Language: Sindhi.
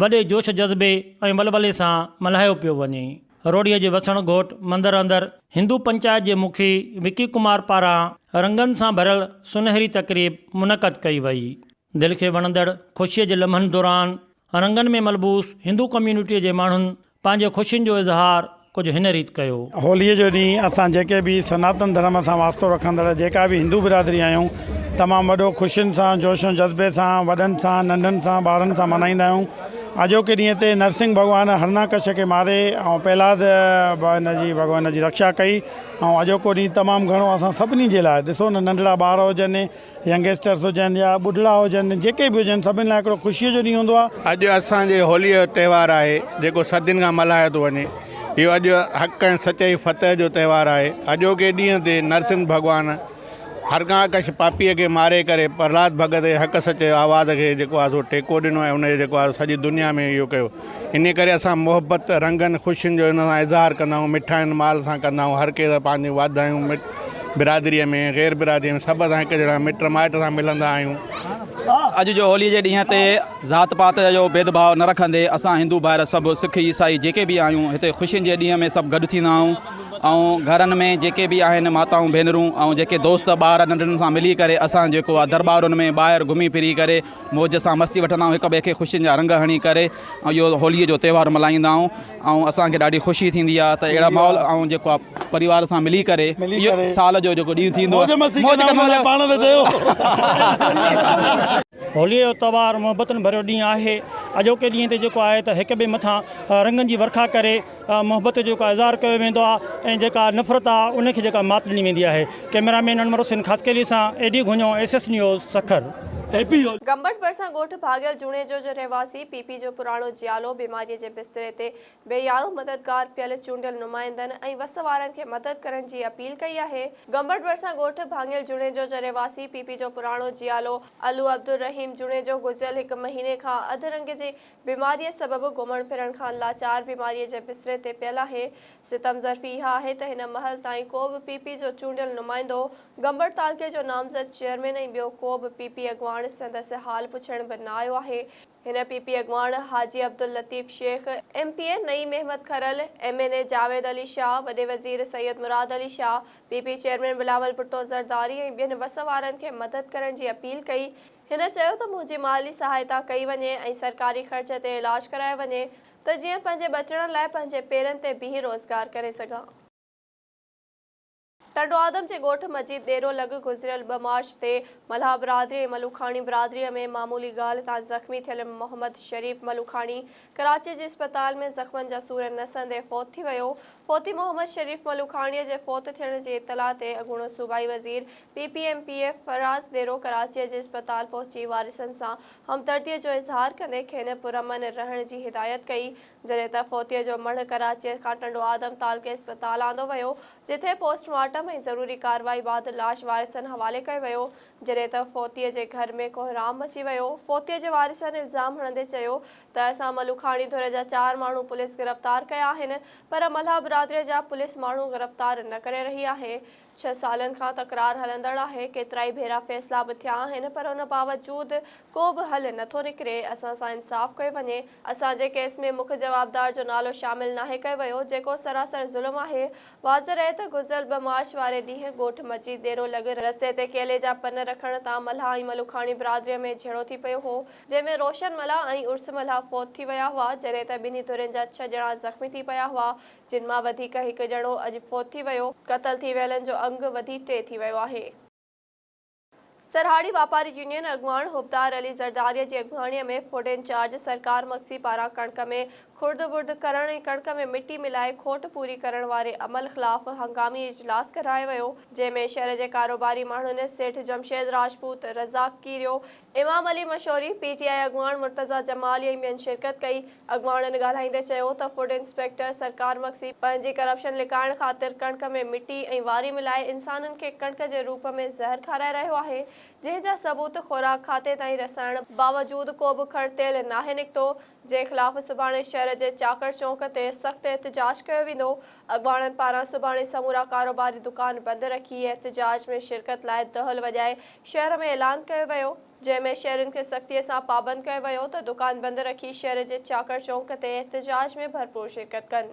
وڏي جوش جذبي ۽ ولولي سان ملهايو پيو وڃي. روهڙيء جي وسڻ گهوٽ مندر اندر هندو پنچائت جي مکي وڪي ڪمار پاران رنگن سان ڀريل سونهري تقريب منعقد ڪئي وئي. دل کي وڻندڙ خوشيء جي لمحن دوران رنگن ۾ ملبوس هندو ڪميونٽيء جي ماڻهن پنهنجي خوشين جو اظهار ڪجهه هن ريت ڪيو. هوليء جو ڏينهن اسان جيڪي به سناتن ڌرم سان واسطو رکندڙ جيڪا به هندو برادري آهيون، تمام وڏو خوشين سان، جوش ۽ جذبي سان، وڏن سان، ننڍن سان، ٻارن سان ملهائيندا آهيون. اڄوڪي ڏينهن تي نرسنگهه ڀڳوان هرڻاڪش کي ماري ۽ پهلاد به هن جي ڀڳوان جي رڪشا ڪئي ۽ اڄوڪو ڏينهن تمام گهڻو اسان سڀني جي لاء، ڏسو نه ننڍڙا ٻار هجن، ينگسٽرس هجن يا ٻڍڙا هجن جيڪي به هجن سڀن لاء هڪڙو خوشيء جو ڏينهن هوندو آهي. اڄ اسان جي هوليء جو تهوار آهي جيڪو صدين کان ملهايو ٿو وڃي. اهو اڄ حق ۽ سچائي فتح جو تهوار آهي. اڄوڪي ڏينهن تي نرسمھ ڀڳوان هرڻاڪش پاپيء کي ماري ڪري پرهلاد ڀڳت جي حق سچ جي آواز کي جيڪو آهي سو ٽيڪو ڏنو ۽ ان جي جيڪو آهي سو سڄي دنيا ۾ اهو ڪيو. انهيء ڪري اسان محبت، رنگن، خوشين جو هن سان اظهار ڪندا آهيون، مٺاين مال سان ڪندا آهيون، هر ڪنهن سان پنهنجون واڌايون مٽ برادريء ۾، غير برادريء ۾ سڀ سان هڪ جهڙا مٽ مائٽ سان ملندا آهيون. اڄ جو هوليء جي ڏينهن تي ذات پات جو ڀيدڀاء نه رکندي اسان هندو ڀائر سڀ سک عيسائي جيڪي به آهيون هتي خوشين جي ڏينهن ۾ سڀ گڏ ٿيندا آهيون ۽ گهرن ۾ جيڪي به آهن ماتائون ڀينرون ۽ جيڪي دوست ٻار ننڍڙن سان ملي ڪري اسان جيڪو آهي درٻارن ۾ ٻاهر گهمي ڦري ڪري موج سان مستي وٺندا آهيون هڪ ٻئي کي خوشين جا رنگ هڻي ڪري اهو هولي جو تهوار ملهائيندا آهيون ۽ اسان کي ڏاڍي خوشي ٿيندي آهي ته اهڙا ماحول ۽ جيڪو آهي پريوار سان ملي ڪري اهو سال جو جيڪو ڏينهن ٿيندو آهي موج مستي ڪندا هوندا پاڻ ته چيو. هولي جو تهوار محبتن ڀريو ڏينهن آهي اڄوڪي ڏينهن تي جيڪو آهي ته هڪ ٻئي مٿان رنگن جي ورکا ڪري محبت جو جيڪا اظهار ڪيو ويندو آهي ۽ جيڪا نفرت آهي ان کي جيڪا مات ڏني ويندي آهي ڪئميرا مين انور حسين خاصخيلي سان A D Ghunio S S news Sukkur A P U. Gambat ڀرسان ڳوٺ ڀاڳيل جوڻيجو جو رهواسي پي پي جو پراڻو جيالو بيماريء جي بستري تي بي يارو مددگار پيل چونڊيل نمائندن ۽ وس وارن کي مدد ڪرڻ جي اپيل ڪئي آهي. گمبٽ ڀرسان ڳوٺ ڀاڱيل جوڻيجو جو رهواسي پي پي جو پراڻو جيالو علو عبدالرحيم جوڻيجو گذريل هڪ مهيني کان اڌ رنگ جي بيماريء سبب گهمڻ ڦرڻ کان لاچار بيماريء جي بستري تي پيل آهي. ستم ظرفي اها آهي ته هن مهل تائين ڪو به پي پي جو چونڊيل نمائندو، گمبڙ تعلقي جو نامزد چيئرمين ۽ ٻيو ڪو به پي پي اڳواڻ سندس حال پڇڻ به نه آيو آهي. هن پي پي اڳواڻ Haji Abdul Latif Shaikh, M P A Naeem Ahmed Karal, M N A Javed Ali Shah, وڏي وزير Syed Murad Ali Shah, P P chairman Bilawal Bhutto Zardari ۽ ٻين وس وارن کي مدد ڪرڻ جي اپيل ڪئي. هن چيو ته منهنجي مالي سهائتا ڪئي وڃي ۽ سرڪاري خرچ تي علاج ڪرايو وڃي ته جيئن پنهنجي ٻچڙن لاء پنهنجي پيرن تي بيهي روزگار ڪري سگهان. ٽنڊو آدم جي ڳوٺ مجيد ڏيرو لڳ گذريل ٻه مارچ تي ملاح برادري ۽ ملوڪاڻي برادري ۾ معمولي ڳالهه تان زخمي ٿيل محمد شريف ملوڪاڻي ڪراچي جي اسپتال ۾ زخمن جا سور نه سهندي فوت ٿي ويو فوتي محمد شريف ملوڪاڻي جي فوت ٿيڻ جي اطلاع تي اڳوڻو صوبائي وزير P P M P A Faraz Dero ڪراچيء جي اسپتال پهچي وارثن سان همدرديء جو اظهار ڪندي کين پرامن رهڻ جي هدايت ڪئي جڏهن ته فوتيء جو مڙهه ڪراچيء کان ٽنڊو آدم تعلقي اسپتال آندو ويو جتي پوسٽ مارٽم ۽ ضروري ڪارروائي بعد لاش وارثن حوالي ڪيو ويو جڏهن ته فوتيء جي گهر ۾ ڪوهرام مچي ويو فوتيء جي وارثن الزام هڻندي چيو ته اسان ملوکاڻي ڌر جا چار ماڻهو پوليس گرفتار ڪيا آهن پر ملهه برادريء جا پوليس ماڻهو گرفتار نه ڪري رهي آهي ڇهه سالن کان تڪرار هلندڙ آهي، ڪيترائي ڀيرا فيصلا به ٿيا آهن پر ان باوجود ڪو به حل نه ٿو نڪري، اسان سان انصاف ڪيو وڃي، اسان جي ڪيس ۾ مک جوابدار جو نالو شامل ناهي ڪيو ويو، جيڪو سراسر ظلم آهي، واضح رهي ته گذريل ٻه مارچ واري ڏينهن ڳوٺ مجيد ڏيرو لڳ رستي تي ڪيلي جا پن رکڻ تان ملهه ۽ ملوکاڻي برادريء ۾ جهيڙو ٿي پيو هو، جنهن ۾ روشن ملهه ۽ عرس ملهه فوت ٿي ويا هئا، جڏهن ته ٻنهي ڌرين جا ڇهه ڄڻا زخمي ٿي پيا هئا، جن مان وڌيڪ هڪ ڄڻو اڄ فوت ٿي ويو، قتل ٿي ويلن جو انگ وڌي ٽي ٿي ويو آهي. سرهاڙي واپاري يونين اڳواڻ حبدار علي زرداريء جي اڳڀاڻيء ۾ فوڊ انچارج سرڪار مگسي پاران ڪڻڪ ۾ خرد برد ڪرڻ ۽ ڪڻڪ ۾ مٽي ملائي کوٽ پوري ڪرڻ واري عمل خلاف هنگامي اجلاس ڪرايو ويو، جنهن ۾ شهر جي ڪاروباري ماڻهن سيٺ جمشيد راجپوت، رزاق ڪيريو، امام علي مشوري، پي ٽي آء اڳواڻ مرتضيٰ جمالي ۽ ٻين شرڪت ڪئي. اڳواڻن ڳالهائيندي چيو ته فوڊ انسپيڪٽر سرڪار مگسي پنهنجي ڪرپشن لڪائڻ خاطر ڪڻڪ ۾ مٽي ۽ واري ملائي انسانن کي ڪڻڪ جي روپ ۾ زهر کارائي رهيو آهي جنهن جا ثبوت خوراڪ کاتي تائين رسائڻ باوجود ڪو به کڙ تيل ناهي نڪتو جنهن خلاف سڀاڻي شهر جي چاڪڙ چونڪ تي سخت احتجاج ڪيو ويندو اڳواڻن پاران سڀاڻي سمورا ڪاروباري دڪان بند رکي احتجاج ۾ شرڪت لاء دهل وڄائي شهر ۾ اعلان ڪيو ويو جنهن ۾ شهرين کي سختي سان پابند ڪيو ويو ته دڪان بند رکي شهر جي چاڪر چونڪ تي احتجاج ۾ ڀرپور شرڪت ڪن.